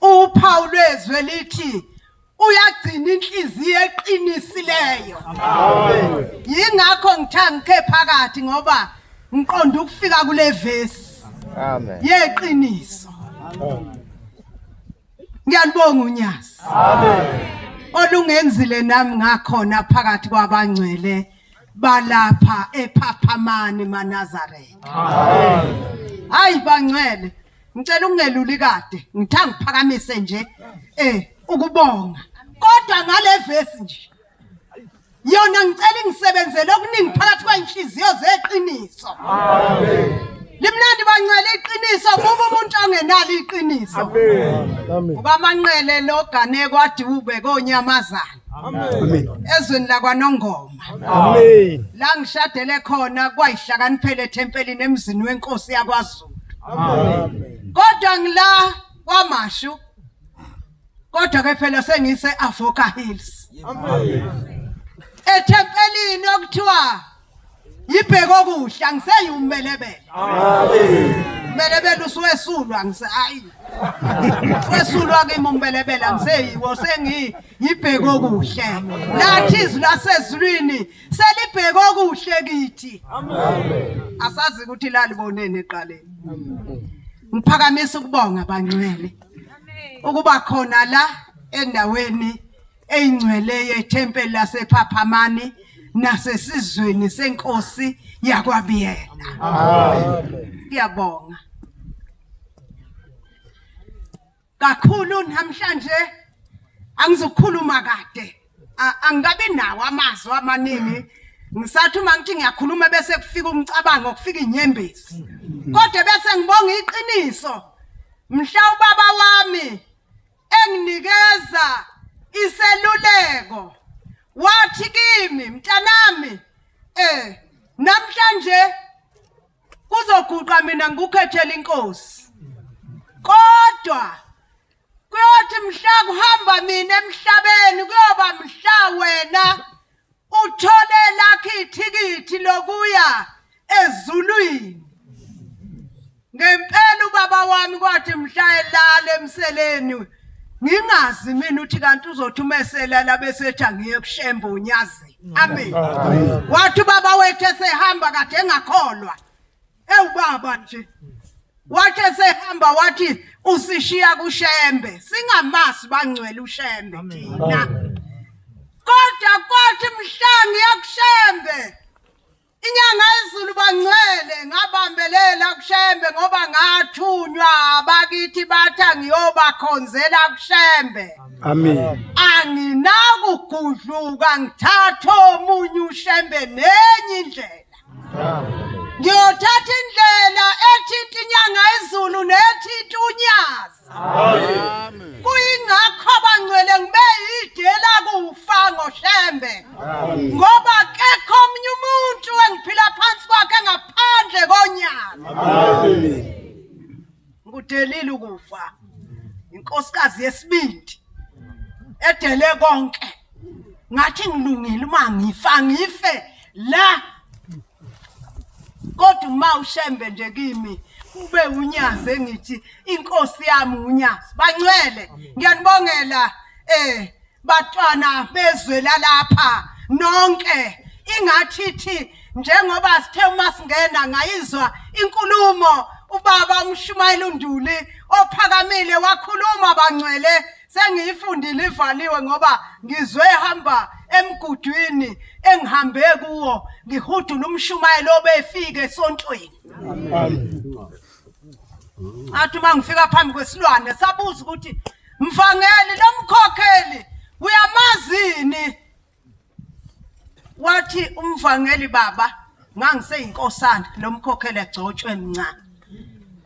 Uphawu lwezwe lithi uyagcina inhliziyo eqinisileyo. Yingakho ngithe ngikhe phakathi ngoba ngiqonda ukufika kule vesi. Amen. Yeqiniso. Ngiyalibonga uNyazi. Amen. Olungenzile nami ngakhona phakathi kwabangcwele balapha ephaphamani maNazaretha. Amen. Hayi bangcwele Ngicela ungeluli kade, ngitha ngiphakamise nje eh ukubonga. Kodwa ngale verse nje. Yona ngicela ingisebenzele okuningi phakathi kwenhliziyo zeqiniso. Amen. Limnandi bancwele iqiniso buba umuntu ongenalo iqiniso. Amen. Ubamanqele logane kwadiwube konyamazana. Amen. Ezweni lakwanongoma. Amen. La ngishadele khona kwayihlakaniphele ethempelini emzini wenkosi yakwaZulu. Amen. Kodwa ngila kwamashu. Kodwa ke phela sengise Avoka Hills. Amen. Ethempelini okuthiwa yibheke okuhle angiseyumbelebele. Amen. Mbelebele usuwesulwa ngise hayi. Wesulwa kimi umbelebele angiseyiwo sengi yibheke okuhle. Lathi izwi lasezulwini Selibheke okuhle kithi. Amen. Asazi ukuthi lalibonene eqaleni. Ngiphakamisa ukubonga bangcwele. Ukuba khona la endaweni eyingcwele yethempeli lasePhaphamani nasesizweni senkosi yakwabiyela. Amen. Ngiyabonga. kakhulu namhlanje angizokhuluma kade angikabi nawo amazwi amaningi ngisathi uma ngithi ngiyakhuluma bese kufika umcabango kufika inyembezi kodwa bese ngibonga iqiniso mhla ubaba wami enginikeza iseluleko wathi kimi mntanami eh namhlanje kuzoguqa mina ngikukhethele inkosi kodwa kuyothi mhla kuhamba mina emhlabeni kuyoba mhla wena uthole lakhe ithikithi lokuya ezulwini ngempela ubaba wami kwathi mhla elala emseleni ngingazi mina uthi kanti uzothi uma eselala bese ethi angiye kushembe unyazi amen wathi ubaba wethu esehamba kade engakholwa ewubaba nje wathi esehamba wathi usishiya kushembe singamasi bangcwele ushembe thina kodwa kwathi mhla ngiyakushembe Inyanga yezulu bangcwele ngabambelela kushembe ngoba ngathunywa abakithi batha ngiyobakhonzela kushembe amen anginakugudluka ngithatha omunye ushembe nenye indlela ngiyothatha indlela ethinta inyanga yezulu nethinta unyazi Amen. Kuyingakho abangcwele ngibe idela kufa ngoshembe. Ngoba kekho omunye umuntu engiphila phansi kwakhe ngaphandle konyana. Amen. Ngidelile ukufa. Inkosikazi yesibindi edele konke. Ngathi ngilungile uma ngifa ngife la kodwa uma ushembe nje kimi ube unyazi engithi inkosi yami unyazi bancwele ngiyanibongela eh batwana bezwe lalapha nonke ingathi thi njengoba sithe uma singena ngayizwa inkulumo ubaba umshumayeli unduli ophakamile wakhuluma bangcwele sengiyifundile ivaliwe ngoba ngizwe ehamba emgudwini engihambe kuwo ngihudula umshumayelo obefike esontweni athi uma ngifika phambi kwesilwane sabuza ukuthi mvangeli lomkhokheli uyamazini wathi umvangeli baba ngangiseyinkosana nomkhokhele gcotshwe mncane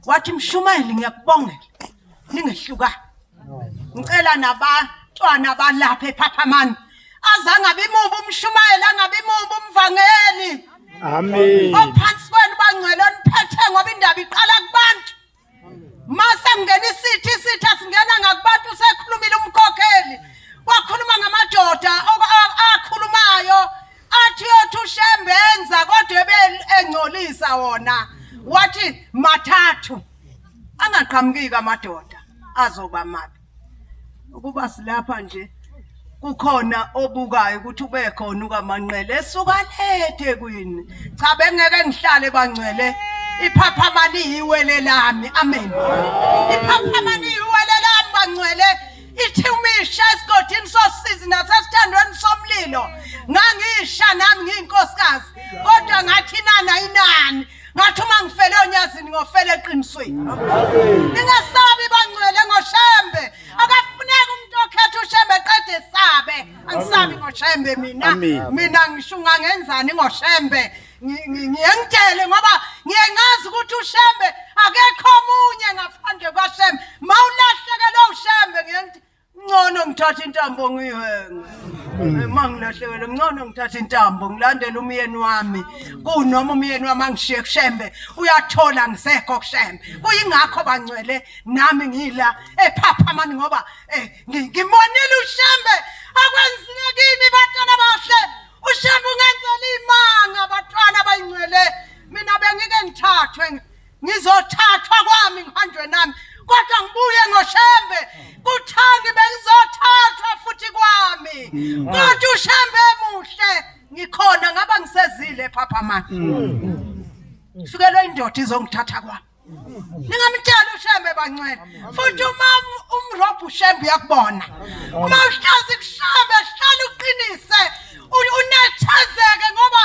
wathi mshumayeli ngiyakubongela ningehlukani ngicela nabantwana balapha ephaphamani azange abimubi umshumayeli angabe imubi umvangeli amen ophansi kwenu bangcwele oniphethe ngoba indaba iqala kubantu mase kungena isithi isithi asingena ngakubantu sekhulumile umkhokheli wakhuluma ngamadoda akhulumayo athi yothi ushembe enza kodwa ebengcolisa wona wathi mathathu angaqhamukiki amadoda azoba mabi ukuba silapha nje kukhona obukayo ukuthi ube khona ukamanqele esuka lethe kwini cha bengeke ngihlale bangcwele iphaphama liyiwele lami amen iphaphama liyiwele lami bangcwele ithi umisha esigodini sosizi nasesithandweni somlilo ngangisha nami ngiyinkosikazi kodwa ngathi nana inani ngathi uma ngifele onyazini ngofele eqinisweni ningasabi bangcwele ngoshembe akafuneki umuntu okhetha ushembe qede sabe angisabi ngoshembe mina mina ngisho ungangenzani ngoshembe ngiyengitshele ngoba ngiye ngazi ukuthi ushembe akekho omunye ngaphandle kwashembe mawulahlekelwe ushembe ngiyengithi Ngcono ngithatha intambo ngiyihenge. Uma ngilahlekelwe ngcono ngithatha intambo ngilandele umyeni wami. Kunoma umyeni wami angishiye kushembe uyathola ngisekho kushembe. Kuyingakho bangcwele nami ngila ephaphamani ngoba eh, ngi- ngimonile ushembe akwenzile kimi batwana bahle. Ushembe ungenzela imanga batwana bayingcwele. Mina bengike ngithathwe ngi- ngizothathwa kwami ngihanjwe nami kodwa ngibuye ngoshembe kuthani bengizothathwa futhi kwami mm. kodwa ushembe emuhle ngikhona ngaba ngisezile phaphamani mm. ngifikelwe indoda izongithatha kwami ningamtshela ushembe bancwele futhi uma umrobhu ushembe uyakubona uma uhlazi kushembe hlala uqinise unethezeke ngoba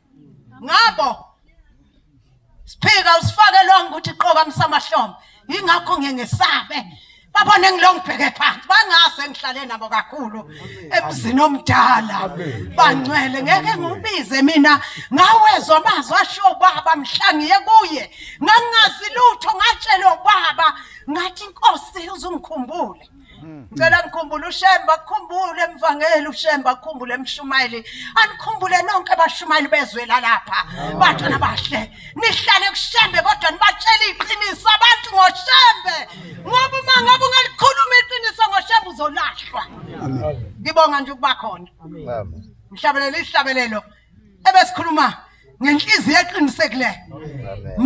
ngabo siphika usifakelwanga ukuthi qoka msamahlombe yingakho ngengesabe babone ngilo ngibheke phansi bangase ngihlale nabo kakhulu emzini omdala bangcwele ngeke ngiwubize mina ngawezwa amazwi ashiwo ubaba mhla ngiye kuye ngangingazi lutho ngatshelwa ubaba ngathi inkosi uzungikhumbule Hmm. Ngicela ngikhumbule uShemba, akukhumbule emvangeli uShemba, akukhumbule emshumayeli. Anikhumbule nonke abashumayeli bezwe lalapha. Bantu abahle. Nihlale kuShembe kodwa nibatshele iqiniso abantu ngoShembe. Ngoba uma ngabe ungalikhuluma iqiniso ngoShembe uzolahlwa. Ngibonga nje ukuba khona. Amen. Ngihlabelela isihlabelelo. ebesikhuluma ngenhliziyo eqinisekileyo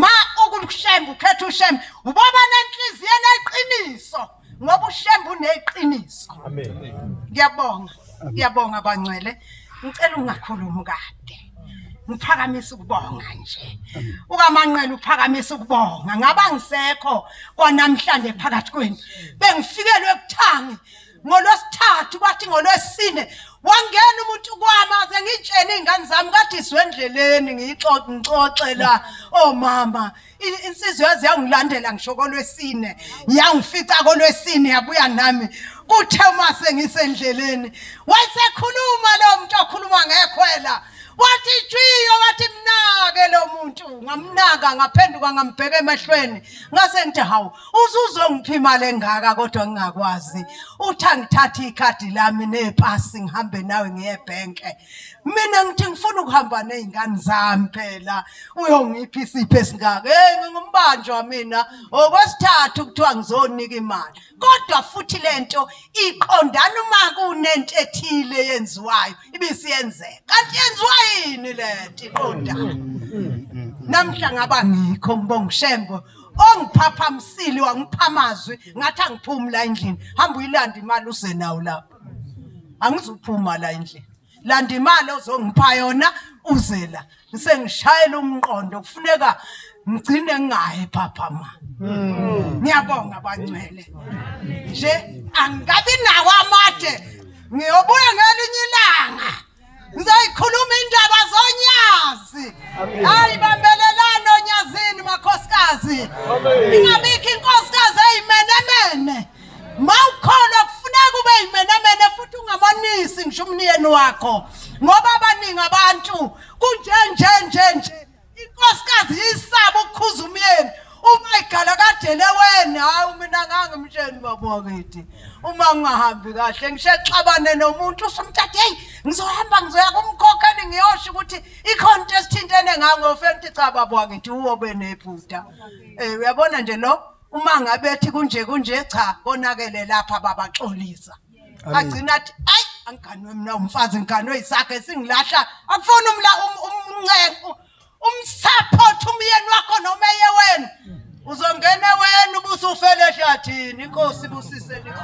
ma ukushembe ukhetha ushembe uboba nenhliziyo eneqiniso ngoba ushembe uneqiniso ngiyabonga ngiyabonga bangcwele ngicela ungakhulumi kade ngiphakamisa ukubonga nje ukamanqela uphakamisa ukubonga ngaba ngisekho kwanamhlanje phakathi kwenu bengifikelwe kuthangi ngolwesithathu bathi ngolwesine wangena umuntu kwami aze ngitshene iy'ngane zami kade izwe endleleni ngixoxe la omama oh, insizwa yaze yangilandela ngisho kolwesine yangifica kolwesine yabuya nami kuthe uma sengisendleleni wayesekhuluma lo muntu okhuluma ngekhwela wathi itshiyo wathi mnake lo muntu ngamnaka ngaphenduka ngambheka emehlweni ngase ngithi hawu Uzuzongipha imali engaka kodwa ngingakwazi. Uthi angithathe ikhadi lami nepasi ngihambe nawe ngiye ebhenke. Mina ngithi ngifuna ukuhamba nezingane zami phela. Uyongipha isipho esingaka. Hey ngingumbanjwa mina. Okwesithathu kuthiwa ngizonika imali. Kodwa futhi lento iqondana uma kunento ethile yenziwayo ibisiyenzeka. Kanti yenziwa yini lento iqondana? Namhla ngaba ngikho ngibonga uShembo ongiphapha msili wangipha amazwi ngathi angiphumi la endlini hamba uyilanda imali uze nawo lapho angizuphuma la endlini landa imali ozongipha yona uze la ngisengishayela umqondo kufuneka ngigcine ngingayi phapha ma hmm. ngiyabonga bangcwele nje angikabi nawo amade ngiyobuya ngelinye ilanga ngizoyikhuluma indaba zonyazi hayi bambelelani onyazini makhosikazi ingabikho inkosikazi eyimenemene ma ukhona kufuneka ube yimenemene futhi ungamonisi ngisho umniyeni wakho ngoba abaningi abantu kunjenjenjenje Inkosikazi yisaba ukukhuza umyeni uma igala kadele weni hayi mina ngangimtsheni baba wakithi uma ngingahambi kahle ngishexabane nomuntu usumthathe hey ngizohamba ngizoya kumkhokheli ngiyosho ukuthi ikhona into esithintene ngango fenti cha baba wakithi uwo benephutha eh uyabona nje lo uma ngabe ethi kunje kunje cha konakele lapha babaxolisa agcina athi ayi angiganwe mina umfazi ngiganwe isakhe singilahla akufuni umla um- um- umncengo umsupport umyeni wakho noma eye wena uzongena wena ubusufele ehlathini inkosi ibusise nikho